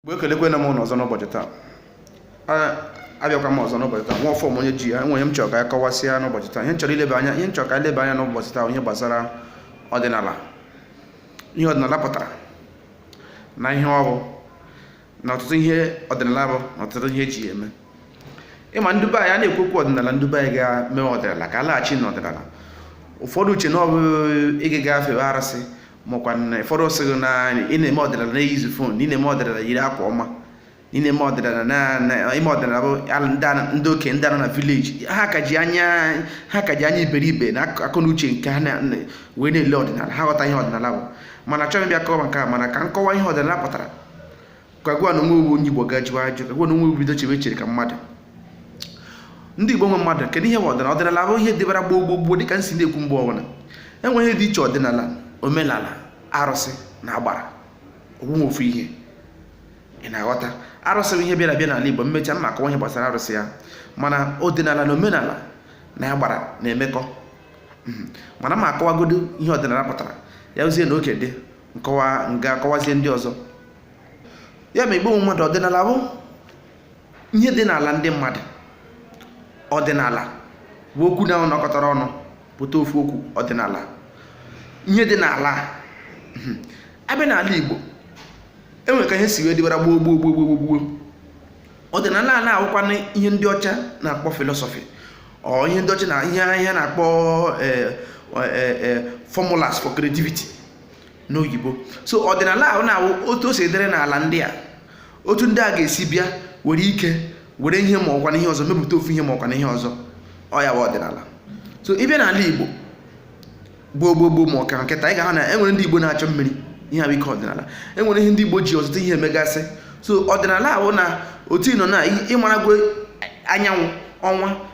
mgbe ekelekwaala m unu ọzọ n'ụbọchị taa abịakwa m ọzọ n'ụbọchị taa nwa fọm onye ji ya enwere ihe m chọrọ ka anyị kọwasịa n'ụbọchị taa ihe m chọrọ ileba anya ihe m chọrọ ka anyị leba anya n'ụbọchị taa ihe gbasara ọdịnala ihe ọdịnala pụtara na ihe ọ bụ na ọtụtụ ihe ọdịnala bụ na ọtụtụ ihe eji ya eme ịma ndị be anyị a na-ekwu okwu ọdịnala ndị be anyị ga-eme ọdịnala ka a laghachi n'ọdịnala ụfọdụ eche na ọ bụ ị ga-aga fewe arụsị makwa na ụfọdụ sị gị na ị na-eme ọdịnala na-ejizi phone na ị na-eme ọdịnala yiri akwa ọma ị na-eme ọdịnala na ime ọdịnala bụ ndị okenye ndị nọ na village ha ka ji anya ha ka ji anya iberibe na akọ na uche nke ha wee na-ele ọdịnala ha ghọta ihe ọdịnala bụ mana achọghị m bịa kọwa nke a mana ka m kọwa ihe ọdịnala pụtara ka gịwa n'onwe gị wụ onye igbo ga-ajụ ajụjụ ka gịwa n'onwe gị bido chebe echiche ka mmadụ ndị igbo nwe mmadụ kedu ihe ọdịnala ọdịnala bụ ihe dịbara gboo gboo gboo dịka m si na-ekwu mgbe ọbụla enweghị ihe dị iche ọdịnala omenala arụsị na agbara onwe ofu ihe ị na-aghọta arụsị bụ ihe bịara abịa n'ala igbo m mechaa m ma akọwa ihe gbasara arụsị ya mana ọdịnala na omenala na agbara na-emekọ hmm. mana m ma akọwagodu ihe ọdịnala pụtara ya ozie na oke dị nkọwa m ga-akọwazi ndị ọzọ ya ma igbo mmadụ ọdịnala bụ ihe dị n'ala ndị mmadụ ọdịnala bụ okwu naabọ nọkọtara ọnụ pụta ofu okwu ọdịnala ihe dị n'ala hmm. abịa n'ala igbo enwere ka ihe si wee dịbara gboo gboo gboo gboo gboo ọdịnala a na-awụkwanụ ihe ndị ọcha na-akpọ philosophy or ihe ndị ọcha ihe ha na-akpọ eh, eh, eh, formulas for creativity n'oyibo so ọdịnala ahụ na-awụ otu o si dịrị n'ala ndị a otu ndị a ga-esi bịa were ike were ihe ma ọkwa na ihe ọzọ mepụta ofu ihe ma ọkwa na ihe ọzọ ọ ya bụ ọdịnala so ịbịa n'ala igbo gboo gboo gboo ma ọ kịta ị ga-ahụ na enwere ndị igbo na-achọ mmiri ihe a bụ ike ọdịnala enwere ihe ndị igbo ji ọtụtụ ihe emegasị so ọdịnala a wụ na otu ị nọ na ịmarago anyanwụ ọnwa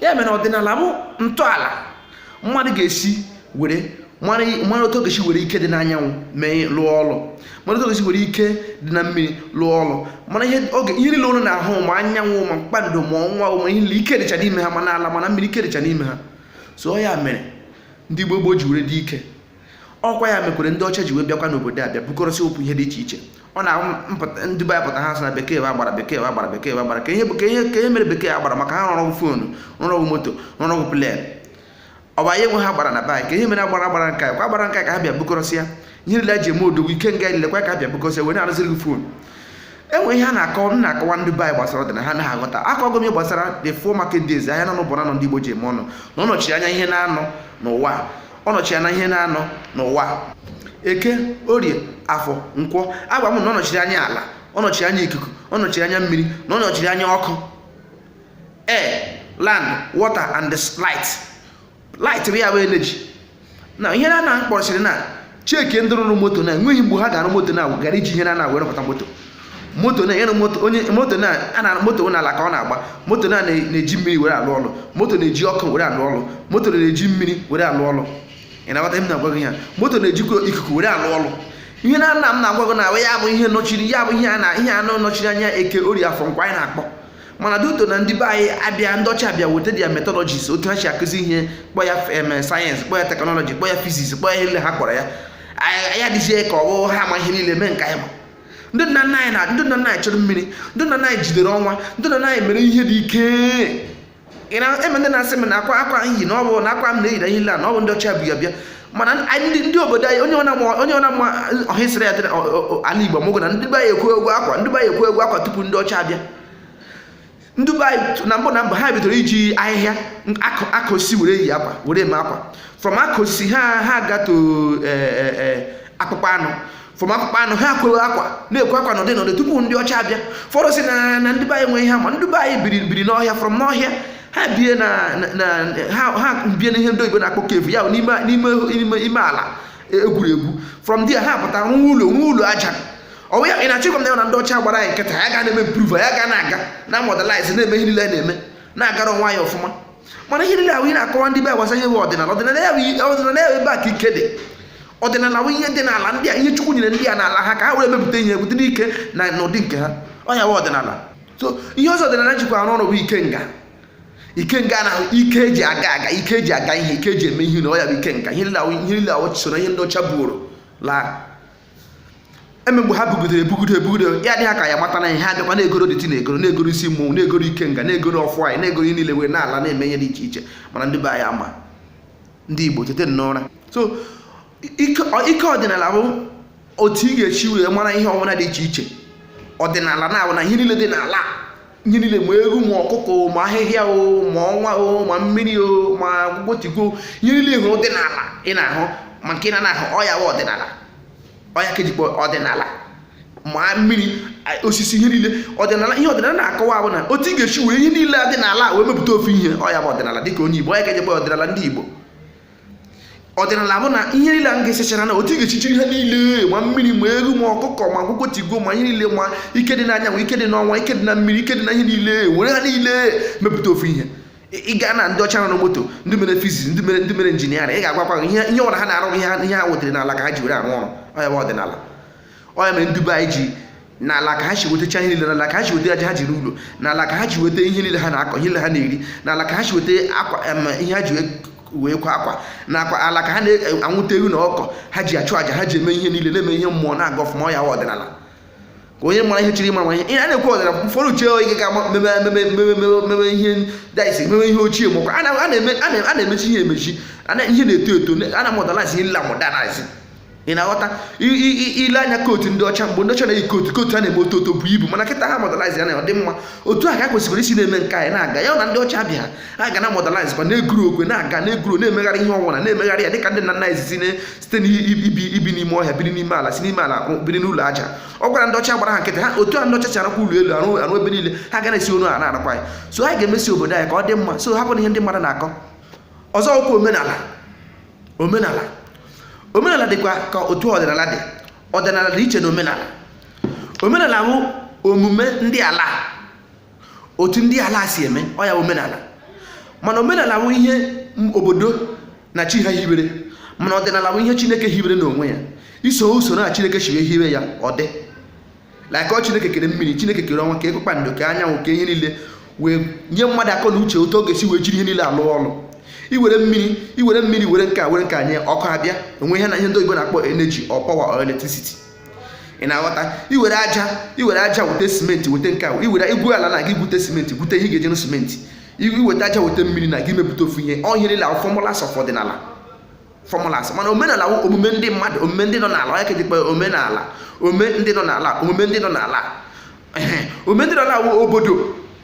ya mere ọdịnala bụ ntọala mmadụ ga-esi were mara otu ọ ga-esi were ike dị n'anyanwụ wee lụọ ọlụ mara otu ọ ga-esi were ike dị na mmiri lụọ ọlụ mana ihe oge ihe niile unu na-ahụ ma anyanwụ ma kpakpando ma ọnwa ma ihe niile ike dịcha n'ime ha ma n'ala ma na mmiri ike dịcha n'ime ha so ọ ya mere ndị gboo gboo ji were dị ike ọkwa ya mekwere ndị ọcha ji wee bịakwa n'obodo a bịa bukọrọsịa ọtụtụ ihe dị iche iche ọ na ndị be anyị pụta ha sị na bekee wụ agbara bekee wụ agbara bekee wụ agbara kedu ihe kedu ihe kedu ihe mere bekee agbara maka ha rụrụ phone rụrụ moto rụrụ plane ọ bụ anyị nwe agbara na be kedu ihe mere agbara gbara nka kwa gbara nka ka ha bịa bukọrọsịa ihe niile ji eme odogwu ike nga nile kwa ka ha bịa bukọrọsịa wee na-arụziri gị phone enwere ihe a na-akọ m na-akọwa ndị be anyị gbasara ọdịnala ha anaghị aghọta akọgo m gbasara the four market days ahịa naanọ ụbọchị anọ ndị Igbo ji eme ọnụ na ọ nọchiri anya ihe naanọ n'ụwa ọ nọchi anya ihe na-anọ n'ụwa eke orie afọ nkwọ agwa m na ọ nọchiri anya ala ọ nọchiri anya ikuku ọ nọchiri anya mmiri na ọ nọchiri anya ọkụ air land water and the light light bụ ya bụ energy na ihe na-anọ kpọrọsịrị na cheki ndị rụrụ moto na enweghị mgbe ha ga-arụ moto na ghara iji ihe na-anọ were pụta moto moto na yana moto onye moto na ana moto n'ala ka ọ na-agba moto na na-eji mmiri were alụ ọlụ moto na-eji ọkụ were alụ ọlụ moto na-eji mmiri were alụ ọlụ ị na-aghọta m na-agwa gị ya moto na-ejikwa ikuku were alụ ọlụ ihe na-anọ m na-agwa gị na ya bụ ihe nọchiri ya bụ ihe a na ihe anọ nọchiri anya eke orie afọ nkwọ anyị na-akpọ mana due to na ndị be anyị abịa ndị ọcha abịa weta their methodologies otu ha si akụzi ihe kpọ ya em science kpọ ya technology kpọ ya physics kpọ ya ihe niile ha kpọrọ ya anyị adịzie ka ọ bụ ha ma ihe niile mee nke anyị ma ndị nna nna anyị na ndị nna nna anyị chụrụ mmiri ndị nna nna anyị jidere ọnwa ndị nna nna anyị mere ihe dị ike ị na-eme ndị na-asị m na akwa akwa i yi na ọ bụ na akwa m na-eyi na ihe niile na ọ bụ ndị ọcha bu ya bịa mana anyị ndị ndị obodo anyị onye ọna ma- onye ọna ma history ya dị na ọ- ọ- ọ- ala igbo mụgụ na ndị be anyị ekweego akwa ndị be anyị ekweego akwa tupu ndị ọcha abịa ndị be anyị na mbụ na mbụ ha bidoro iji ahịhịa aka osisi were yi akwa were eme akwa from aka osisi ha ha gaa to e, e, e, akpụkpọ anụ from akpụkpọ anụ ha kwere akwa na-ekwe akwa n'ụdị n'ụdị tupu ndị ọcha abịa fọrọ si na na ndị be anyị nwee ihe ma ndị be anyị biri biri n'ọhịa from n'ọhịa ha bie na ha bie n'ihe ndị oyibo na-akpọ cave ya n'ime ime ala e gwuru egwu from there ha pụtara rụọ ụlọ rụọ ụlọ aja ọ wụ ya ị na-achọ ịgwa m na ya na ndị ọcha gbara anyị nkịtị ya ga na-eme improve ya ga na-aga na modernize na-eme ihe niile na-eme na-agara onwe anyị ọfụma mana ihe niile ahụ ị na-akọwa ndị be gbasara ihe bụ ọdịnala ọdịnala ya ọdịnala ya ebe a ka ike dị ọdịnala bụ ihe dị n'ala ndị a ihe chukwu nyere ndị a n'ala ha ka ha were mepụta ihe ebute n'ike na n'ụdị nke ha ọ ya bụ ọdịnala so ihe ọzọ ọdịnala jikwa arụ ọrụ bụ ikenga ikenga na ike eji aga aga ike eji aga ihe ike eji eme ihe na ọ ya bụ ikenga ihe niile ahụ so na ihe ndị ọcha buuru laa mgbe ha bugidere ebugide ebugide ya dị ha ka ya mata na ihe ha bịakwa na-egoro deity na-egoro na-egoro isi mmụọ na-egoro ikenga na-egoro ọfọ anyị na-egoro ihe niile wee na-ala na-eme ihe dị iche iche mana ndị be anyị ama ndị igbo teta n'ụra so ike ọdịnala bụ otu ị ga-esi wee mara ihe ọbụla dị iche iche ọdịnala na-abụ na ihe niile dị n'ala ihe niile ma ewu ma ọkụkọ ma ahịhịa o ma ọnwa o ma mmiri o ma gbotigwo ihe niile ahụ dị n'ala ị na-ahụ ma nke na ahụ ọ ya wụ ọdịnala ọ ya ka e ji akpọ ọdịnala ma mmiri osisi ihe niile ọdịnala ihe ọdịnala na-akọwa bụ na otu ị ga-esi were ihe niile a dị n'ala wee mepụta ofu ihe ọ ya bụ ọdịnala dịka onye Igbo ọ ya ka e ji akpọ ọdịnala ndị Igbo ọdịnala bụ na ihe niile a ga-esechara na otu ị ga-esi chịrị ha niile ma mmiri ma ewu ma ọkụkọ ma akwụkwọ tigo ma ihe niile ma ike dị n'anyanwụ ike dị n'ọnwa ike dị na mmiri ike dị na ihe niile were ha niile mepụta ofu ihe ị gaa na ndị ọcha na-arụ moto ndị mere fiziks ndị mere ndị mere injiniarị ị ga-agwakwa ihe ihe ọbụla ha na-arụ ihe ha gwutere n'ala ka ha ji were arụ ọrụ ọ ya bụ ọdịnala ọ ya mere ndị be anyị ji n'ala ka ha si wetacha ihe niile n'ala ka ha si weta aja ha ji arụ ụlọ n'ala ka ha ji weta ihe niile ha na-akọ ihe niile ha na-eri n'ala ka ha si weta akwa em, ihe ha ji wee- wee kwa akwa na akwa n'ala ka ha na-anwụta ewu na ọkụkọ ha ji achụ aja ha ji eme ihe niile na-eme ihe mmụọ na-aga ọfụma ọ ya wụ ọdịnala ka onye mara ihe chiri ịmara ma ihe ihe a na-ekwu ọdịnala ụfọdụ uche oge ga ama mebe mebe mebe mebe mebe ihe daisi mebe ihe ochie mbakwa a na- a na-eme a na- a na-emezi ihe emezi a na- ihe na-eto eto a na-amodernize ihe amodernize ị na-aghọta i lee anya kootu ndị ọcha mgbe ndị ọcha na-eyi kootu kootu a na-eme otu oto bụ ibu mana kịta ha modernize ya na ọ dị mma otu a ka a kwesịkwara isi na-eme nke anyị na-aga ya na ndị ọcha bịa a ga na modernize kwa na-egrow kwa na-aga na-egrow na-emegharị ihe ọwụna na-emegharị ya dịka ndị nna nna anyị si site n'ibi ibi n'ime ọhịa biri n'ime ala si n'ime ala biri n'ụlọ aja ọ wụrụ na ndị ọcha gbara ha nkịtị ha otu a ndị ọcha si arụkwa ụlọ elu arụ arụ ebe niile ha ga na-esi otu a na-arụkwa anyị so anyị ga-emezi obodo anyị ka ọ dị mma so hapụ na ihe ndị mmadụ na-akọ ọzọ okwu omenala omenala omenala dịkwa ka otu ọdịnala dị ọdịnala dị iche na omenala omenala wụ omume ndị ala otu ndị ala si eme ọ ya omenala mana omenala wụ ihe obodo na chi ha hibere mana ọdịnala wụ ihe chineke hibere n'onwe ya isoro usoro a chineke siri hibe ya ọ dị like ọ chineke kere mmiri chineke kere ọnwa kee kpakpando kee anyanwụ kee ihe niile wee nye mmadụ akọ na uche otu ọ ga-esi wee jiri ihe niile arụ ọrụ iwere mmiri iwere mmiri were nke a were nke a nye ọkụ abịa onwe ihe na ihe ndị oyibo na-akpọ energy or power or electricity ị na-aghọta iwere aja iwere aja weta simenti weta nke a iwere i gwuo ala na gị gwute simenti gwute ihe ga-eji rụọ simenti iweta aja weta mmiri na gị mepụta ofu ihe ọ ihe niile ahụ formulas of ọdịnala formulas mana omenala wụ omume ndị mmadụ omume ndị nọ n'ala ọ ya ka e ji kpọ omenala omume ndị nọ n'ala omume ndị nọ n'ala omume ndị nọ n'ala wụ obodo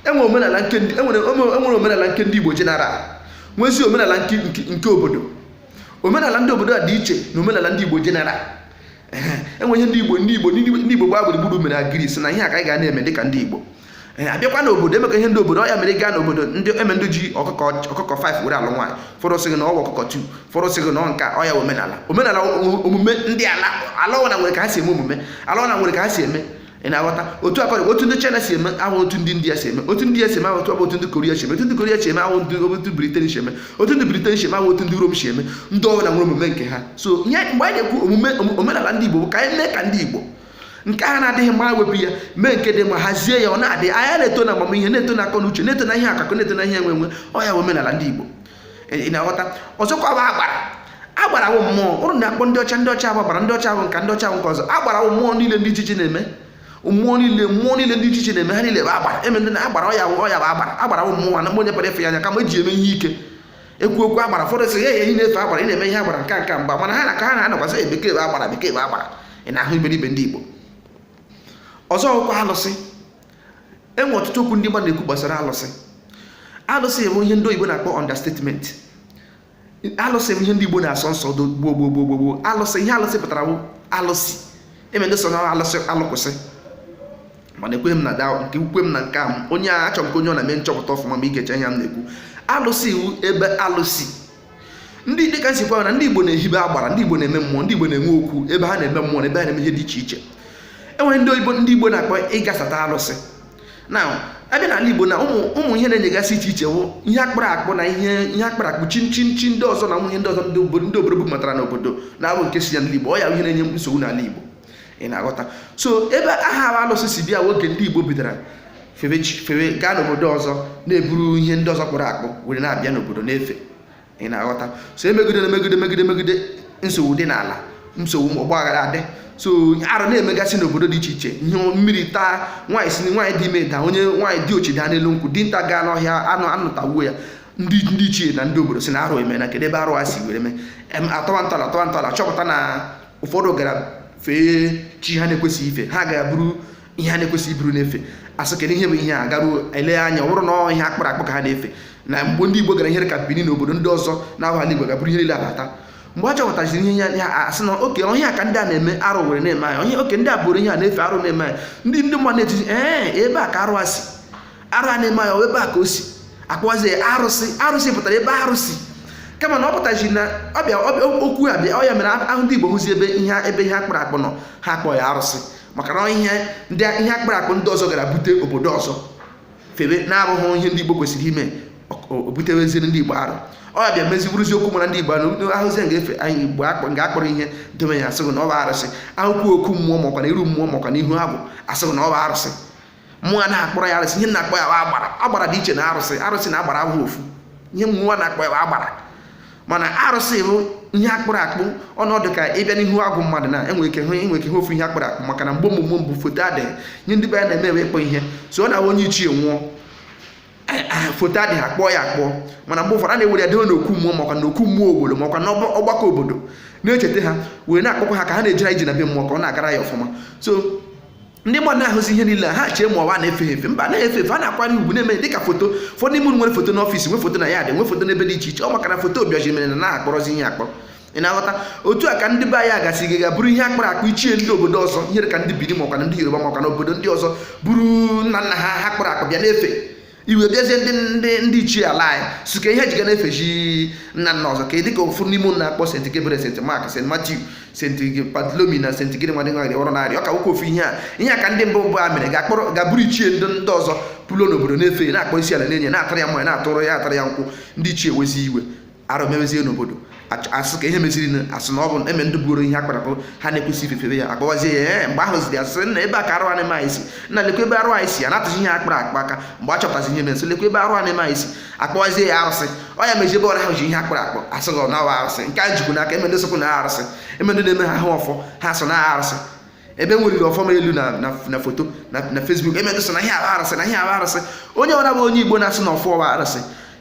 enwere omenala nke ndị enwere enwere omenala nke ndị Igbo jeneral nwezi omenala nke nke obodo omenala ndị obodo a dị iche na omenala ndị Igbo jeneral e nwee ihe ndị igbo ndị igbo ndị igbo gbaa gburugburu mere agree si na ihe a ka anyị ga na-eme dịka ndị igbo ee eh, abịakwa n'obodo emekọ ihe ndị obodo ọ ya mere ị gaa n'obodo e nwee ndị ji ọkụkọ ọkụkọ 5 were alụ nwaanyị ụfọdụ sị gị na ọ wụ ọkụkọ 2 ụfọdụ sị gị na ọ nke a ọ ya wụ omenala omenala omume ndị ala ala ọwụna nwere ka ha si eme omume ala ọwụna nwere ka ha si eme ị na-aghọta otu akọrọ otu ndị China si eme awụghị otu ndị India si eme otu ndị si eme awụghị otu awụghị otu ndị Korea si eme otu ndị Korea si eme awụghị otu Britain si eme otu ndị Britain si eme awụghị otu ndị Rom si eme ndị ọbụla nwere omume nke ha so nye mgbe anyị na-ekwu omume omenala ndị Igbo bụ ka anyị mee ka ndị Igbo nke na-adịghị mma wepụ ya mee nke dị mma hazie ya ọ na-adị anyị na-eto na amamihe na-eto na akọ na uche na-eto na ihe akụkọ na-eto na ihe enwe enwe ọ ya omenala ndị Igbo ị na-aghọta ọzọkwa bụ agbara agbara bụ mmụọ ụrụ na-akpọ ndị ọcha ndị ọcha agbara ndị ọcha bụ nka ndị ọcha bụ nke ọzọ agbara bụ mmụọ niile dị iche iche na-eme mmụọ niile mmụọ niile dị iche iche na-eme ha niile bụ agbara eme ndị agbara ọya ọya bụ agbara agbara bụ mmụọ na onye pere efe ya anya kama eji eme ihe ike ekwu okwu agbara ụfọdụ sị ya ehi na-efe agbara ị na-eme ihe agbara nka nka mgba mana ha na ka ha na-anọkwa asị bekee bụ agbara bekee bụ agbara ị na-ahụ iberibe ndị Igbo ọzọ okwu alụsị enwe ọtụtụ okwu ndị mmadụ na-ekwu gbasara alụsị alụsị bụ ihe ndị oyibo na-akpọ understatement alụsị bụ ihe ndị igbo na-asọ nsọ gboo gboo gboo gboo gboo alụsị ihe alụsị pụtara bụ alụsị eme ndị sị na alụsị alụ kwụsị mana ekweghị m na da nke ukwe m na nke a onye a achọrọ m ka onye ọ na-eme nchọpụta ọfụma ma ị gechaa ihe m na-ekwu alụsị bụ ebe alụ si ndị dịka m sịkwa na ndị Igbo na-ehibe agbara ndị Igbo na-eme mmụọ ndị Igbo na-enwe okwu ebe ha na-eme mmụọ na ebe ha na-eme ihe dị iche iche enwere ndị oyibo ndị Igbo na-akpọ ịgasata alụsị na abịa n'ala Igbo na ụmụ ihe na-enyegasị iche iche bụ ihe akpụrụ akpụ na ihe ihe akpụrụ akpụ chi chi chi ndị ọzọ na ụmụ ihe ndị ọzọ ndị obodo bubatara n'obodo na-abụghị nke si ya n'ala Igbo ọ ya ihe na-enye nsogbu n'ala Igbo ị na-aghọta so ebe aha bụ alụsị si bịa oge ndị igbo bidoro febe chi febe gaa n'obodo ọzọ na-eburu ihe ndị ọzọ kpụrụ akpụ were na-abịa n'obodo na-efe ị na-aghọta so emegide na megide megide megide nsogbu dị n'ala nsogbu ma ọgba aghara adị so arụ na-emegasị n'obodo dị iche iche ihe mmiri taa nwaanyị si nwaanyị dị ime daa onye nwaanyị di ochi daa n'elu nkwụ dinta gaa n'ọhịa anụ anụ tagbuo ya ndị ndị ichie na ndị obodo sị na arụ emee na kedu ebe arụ a si were mee Em, atọwa ntọala atọwa ntọala chọpụta na ụfọdụ gara fee chi ha na-ekwesịghị ife ha gara buru ihe ha na-ekwesịghị iburu na-efe asị kedu ihe bụ ihe a garuo elee anya ọ bụrụ na ọ ihe akpụrụ akpụ ka ha na-efe na mgbe ndị igbo gara ihe dị ka Bini na obodo ndị ọzọ na-abụghị ala igbo gaa buru ihe niile abata mgbe a chọpụtaziri ihe ya ya asị na okay ọ ihe a ka ndị a na-eme arụ were na-eme anyị okay ndị a buru ihe a na-efe arụ na-eme anyị ndị ndị mmadụ na-etizi ee ebe a ka arụ a si arụ a na-eme ya ebe a ka o si akpọzi arụsị arụsị pụtara ebe arụ si kama na ọ pụtazi na ọbịa okwu a bịa ọ ya mere ahụ ndị Igbo hụzi ebe ihe ebe ihe akpụrụ akpụ nọ ha akpọ ya arụsị maka na ihe ndị ihe akpụrụ akpụ ndị ọzọ gara bute obodo ọzọ febe na-abụghị ihe ndị Igbo kwesịrị ime obuteweziri ndị Igbo arụ ọ bịa mezi bụrụzi okwu mara ndị Igbo ahụ ahụzi nga efe anyị Igbo nga akpụrụ ihe dome ya asịzi na ọ bụ arụsị ahụkwa okwu mmụọ makwa na iru mmụọ makwa na ihu agwụ asịzi na ọ bụ arụsị mba anaghị akpọ ya arụsị ihe a na-akpọ ya agbara agbara dị iche na arụsị arụsị na agbara abụghị ofu ihe mmụọ na-akpọ ya agbara mana arụsị bụ ihe akpụrụ akpụ ọ na-adị ka ị bịa n'ihu agwụ mmadụ na enwere ike hụ enwere ike hụ ofu ihe akpụrụ akpụ maka na mgbe omume mbụ foto adịghị ihe ndị be anyị na-eme bụ ịkpụ ihe so ọ na-abụ onye ichie nwụọ foto adịghị akpụọ ya akpụ mana mgbe ụfọdụ a na-ewere ya debe n'okwu mmụọ makwa n'okwu mmụọ obodo makwa n'ọgbakọ obodo na-echeta ha were na-akpọku ha ka ha na-ejere ije na be mmụọ ka ọ na-agara ya ọfụma so ndị mmadụ na-ahụzi ihe niile ha chee ma ọ wa a na-efe efe mba na-efe efe a na-akwanye ugwu na-eme dịka foto ụfọdụ n'ime unu nwere foto n'ọfịs nwe foto na yaadị nwe foto n'ebe dị iche iche ọ maka na foto abịaghị mere nna ha kpụrụzi ihe akpụrụ ị na-aghọta otu a ka ndị be anyị agasị gaa ga buru ihe akpụrụ akpụ ichie ndị obodo ọzọ ihe ka ndị bini makwa ndị yoruba makwa na obodo ndị ọzọ buru nna nna ha ha kpụrụ akpụ bịa na-efe iwe bịazie ndị ndị ndị ichie ala anyị sị ka ihe jiga na-efezi nna nna ọzọ ka ị dịka ụfọdụ n'ime unu na-akpọ sent gebre sent mak sent matiu sent batlomi na sent gịnị nwadị nwaghị ọrụ narị ọ ka nwoke ofu ihe a ihe a ka ndị mbụ mbụ a mere ga-akpọrọ ga buru ichie ndị ndị ọzọ kpụlụ n'obodo na-efe na-akpọ isi ala na-enye na-atara ya mmanya na-atụrụ ya na-atara ya nkwụ ndị ichie ewezi iwe arụ mewezie n'obodo a sị ka ihe meziri na a sị na ọ bụ eme ndị buru ihe akpụrụ akpụ ha na-ekwesịghị ife efe bịa akpọwazie ya ee mgbe ahụ ziri a sị na ebe a ka arụ a na-eme si na lekwa ebe arụ anyị si a na-atụzi ihe akpụrụ akpụ aka mgbe a chọpụtazi ihe mere sị lekwa ebe arụ a na-eme si akpọwazie ya arụsị ọ ya meji ebe ọbụla a hụzi ihe akpụrụ akpụ a sị gị na ọ wa arụsị nke a jikwu n'aka eme ndị sokwu na arụsị eme ndị na-eme ha ahụ ọfọ ha so na arụsị ebe m weliri ọfọ m elu na foto na Facebook eme ndị so na ihe awa arụsị na ihe awa arụsị onye ọbụla bụ onye Igbo na-asị na ọfọ ọwa arụsị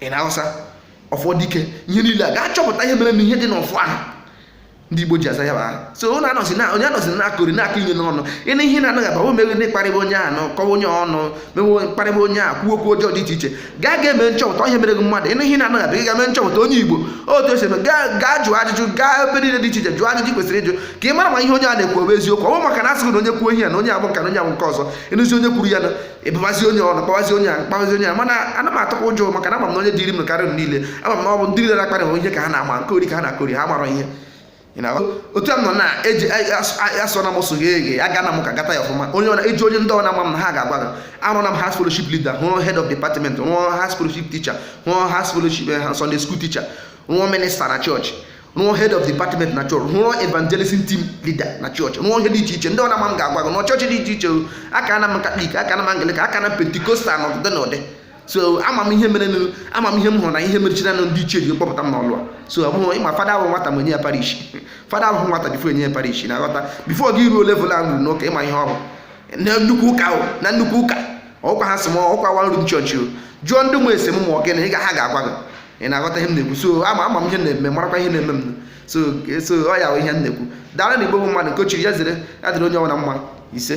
ị na-aghọta ọfọ dike ihe niile a ga-achọpụta ihe mere na ihe dị n'ọfọ ahụ ndị igbo ji aza ya bụ aha so onye anọzi na onye anọzi na-akọri na-akọ onye ọnụ ị nụ ihe na-anaghị aba o meghị n'ịkparịba onye ahụ na kọwa onye ọnụ mewe mkparịba onye ahụ kwuo okwu ọjọọ dị iche iche gaa ga mee nchọpụta ihe mere gị mmadụ ị nụ ihe na-anaghị aba ị ga mee nchọpụta onye igbo otu esi eme gaa gaa jụọ ajụjụ gaa ebe niile dị iche iche jụọ ajụjụ kwesịrị ịjụ ka ị mara ma ihe onye a na-ekwu ọ bụ eziokwu ọ bụ maka na a sị gị na onye kwuo ihe ya na onye a bụ nke a na onye a bụ nke ọzọ ịnụzi onye kwuru ya na ebebazi onye ọnụ kpawazi onye a kpawazi onye a mana anaghị m atụkwa ụjọ maka na ama m na onye dịrị m karịa niile ama m na ọ bụ ndị niile na-akparị ihe ka ha na-ama nkọri ka ha na-akọri ha mara ihe otu a nọ na eji asọ na m so gị eghe aga na m ụka gata ya ọfụma onye ọna eji onye ndị ọ na-ama m na ha ga-agwa gị arụna m house fellowship leader rụọ head of department rụọ house fellowship teacher rụọ house fellowship eh, Sunday school teacher rụọ minista na chọọchị rụọ head of department na chọọchị rụọ evangelism team leader na chọọchị rụọ ihe dị iche iche ndị ọ na-ama m ga-agwa gị na chọọchị dị iche iche aga na m katọlik aga na m anglikan aga na m pentikostal na ọdịdị na ụdị so ama m ihe mere ama m ihe m hụrụ na ihe meziri anụ ndị ichie ji kpọpụta m n'ọlụ a so ọ bụghị ịma fada ahụ nwata ma enye ya parish fada ahụ nwata bifo enye ya parish ị na-aghọta bifo gị ruo level m ruru n'ụka ị ma ihe ọ bụ na nnukwu ụka ahụ na nnukwu ụka ọkwa ha sị m ọkwa m ruru na chọọchị jụọ ndị ma m ese m ma ọ gịnị ị ga ha ga-agwa gị ị na-aghọta ihe m na-ekwu so ama ama m ihe m na-eme marakwa ihe na-eme m so so ọ ya bụ ihe m na-ekwu daalụnụ igbo bụ mmadụ nke onye chiri ya zere ya dịrị onye ọbụla mma ise